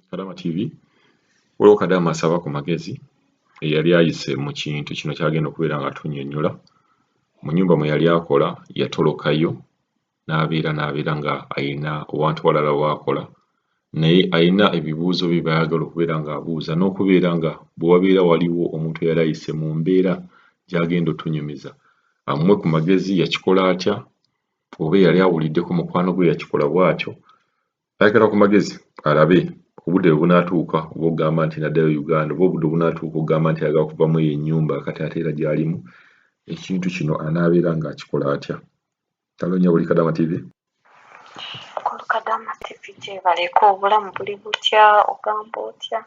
Kadama TV waliwo Kadama asaba ku magezi eyali ayise mu kintu kino kyagenda okubeera nga tunyonyola mu nyumba mwe yali akola yatolokayo n'abeera n'abeera nga ayina owantu walala waakola naye ayina ebibuuzo bye bayagala okubeera nga abuuza n'okubeera nga bwe wabeera waliwo omuntu eyali ayise mu mbeera gyagenda otunyumiza amwe ku magezi yakikola atya oba eyali awuliddeko mukwano gwe yakikola bwatyo ayagala ku magezi alabe obudde bwebunaatuuka oba ogamba nti naddayo uganda oba obudde obunaatuuka ogamba nti ayagala kuvamu eyo ennyumba kati ate era gyalimu ekintu kino anaabeera ng'akikola atya tanonya buli kadama tv kulukadama tv gyebaleka obulamu buli butya ogamba otya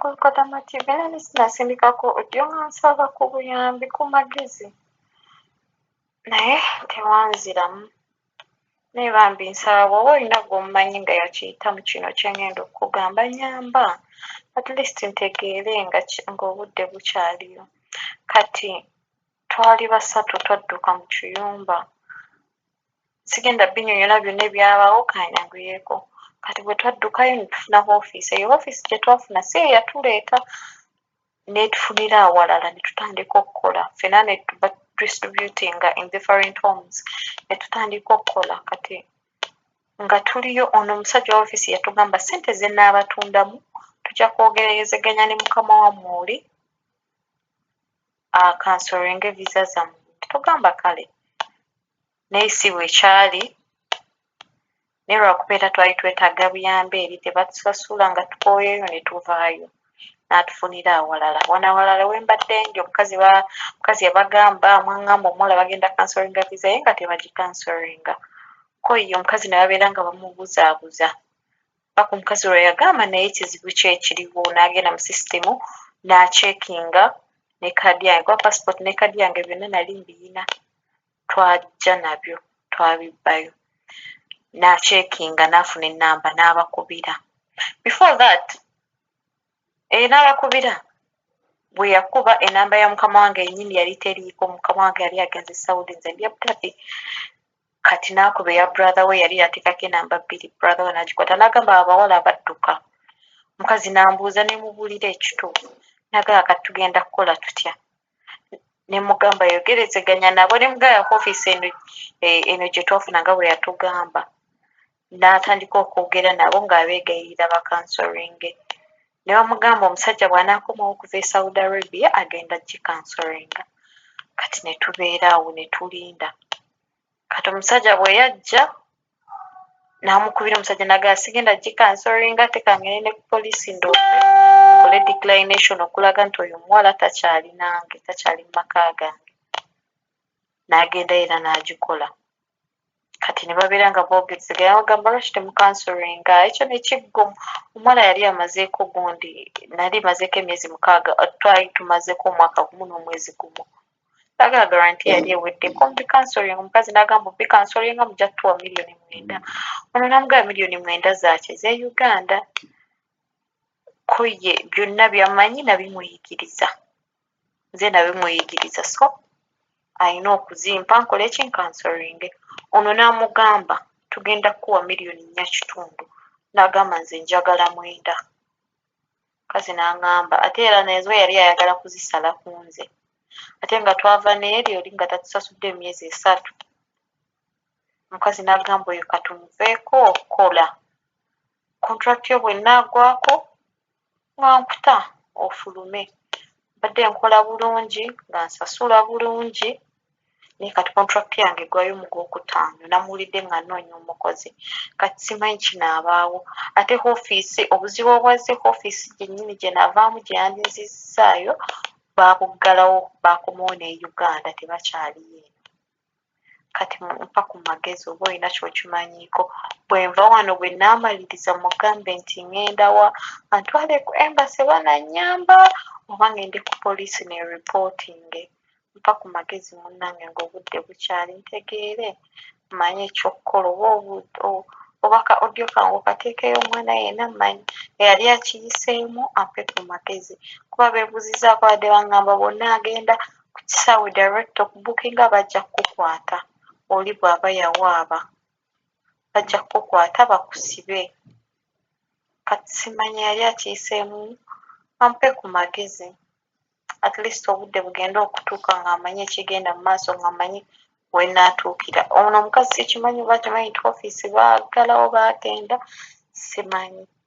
kulukadama tv era nesinasindikako odyo nga nsaba ku buyambi ku magezi naye tewanziramu Naye bambi nsaba bwoba olina gwomumanyi nga yakiyitamu kino kyengenda okukugamba nyamba at least ntegeere nga ki nga obudde bukyaliyo kati twali basatu twadduka mu kiyumba sigenda binyonyola byona ebyabawo kanyanguyeko kati bwetwaddukayo netufuna wofiisi eyo wofiisi gyetwafuna si yeyatuleeta. netufunira awalala netutandika okukola fena netuba distributinga in different homes netutandika okukola kati nga tuliyo ono omusajja owa office yatugamba sente zenaabatundamu tuja kwogerezeganya ne mukama wamwe oli akansoringe visa zamwe netugamba kale naye si bwe kyali naye lwakuba era twali twetaaga buyambi eri tebatusasula nga tukooyeyo ne tuvaayo n'atufunira awalala wano awalala we mbadde nja omukazi omukazi yabagamba mwangamba omuwala bagenda kansoringa viza ye nga tebagikansoringa ko ye omukazi ne babeera nga bamubuzaabuza paka omukazi lwe yagamba naye kizibu ki ekiriwo n'agenda mu sisitimu n'acekinga ne kaadi yange kuba pasipoti ne kaadi yange byonna nali mbiyina twajja nabyo twabibbayo nakyekinga nafuna enamba nabakubira before that e eh, nabakubira bweyakuba enamba ya mukama wange yenyini yali teriiko mukama wange yali agenze saudi nze ndi abudhabi kati nakuba eya brother we yali yatekako enamba bbiri brother we nagikwata nagamba abawala abadduka mukazi nambuuza nemubulira ekituufu nagala kati tugenda kukola tutya nemugamba ayogerezeganya nabo nemugamba yako ofiisi eno eh, eno gyetwafuna nga bwe yatugamba n'atandika okwogera nabo ng'abeegayirira bakansoringe ne bamugamba omusajja bw'anaakomawo okuva e saudi arabia agenda gikansoringa kati ne tubeera awo ne tulinda kati omusajja bwe yajja n'amukubira omusajja naga sigenda gikansoringa ate kangende ne ku poliisi ndoope nkole declination okulaga nti oyo omuwala takyali nange takyali mu maka gange n'agenda era n'agikola kati ne babeera nga boogezegaa bagamba lwaki temukansoringa ekyo nekiggo omuwala yali amazeeko gundi nali mazeeko emyezi mukaaga twali tumazeeko omwaka gumu n'omwezi gumu Bagala guarantee yali ewedde kumbi counseling omukazi nagamba obi counselinga muja kutuwa million mwenda ono namugaba million mwenda zaki ze Uganda ko ye byonna byamanyi nabimuyigiriza nze nabimuyigiriza so alina okuzimpa nkole ki nkansolinge ono namugamba tugenda kukuwa million nnya kitundu nagamba nze njagala mwenda. Mukazi n'angamba ate era nazo yali ayagala kuzisala ku nze ate nga twava n'eri oli nga tatusasudde emyezi esatu. Omukazi n'agamba oyo ka tumuveeko kola kontulakiti yo bw'enaagwako nga nkuta ofulume. Mbadde nkola bulungi nga nsasula bulungi. naye kati contract yange egwayo mu gwokutaano namuwulidde nga noonya omukozi kati simanyi kinaabaawo ate ofiisi obuzibu obwazze ku ofiisi gyennyini gye navaamu gye yandinzizzaayo baabuggalawo baakomawo ne uganda tebakyaliyo eno kati mpa ku magezi oba olina kyokimanyiiko bwenva wano bwe naamaliriza mugambe nti ŋŋendawa antwale ku embase banannyamba oba ŋŋende ku poliisi ne ripootinge mpa ku magezi munnange ng'obudde bukyali ntegeere mmanye ky'okukola oba oba ka audio kange okateekeyo omwana yenna mmanyi eyali akiyiseemu ampe ku magezi kuba beebuuzizzaako badde bangamba bwonna agenda ku kisaawe direct okubukinga bajja kukukwata oli bw'aba yawaaba bajja kukukwata bakusibe kati simanyi eyali akiyiseemu ampe ku magezi. at least obudde bugende okutuuka nga amanyi ekigenda mu maaso nga amanyi wenaatuukira ono omukazi sikimanyi oba akimanyi nti ofiisi baagalawo baagenda simanyi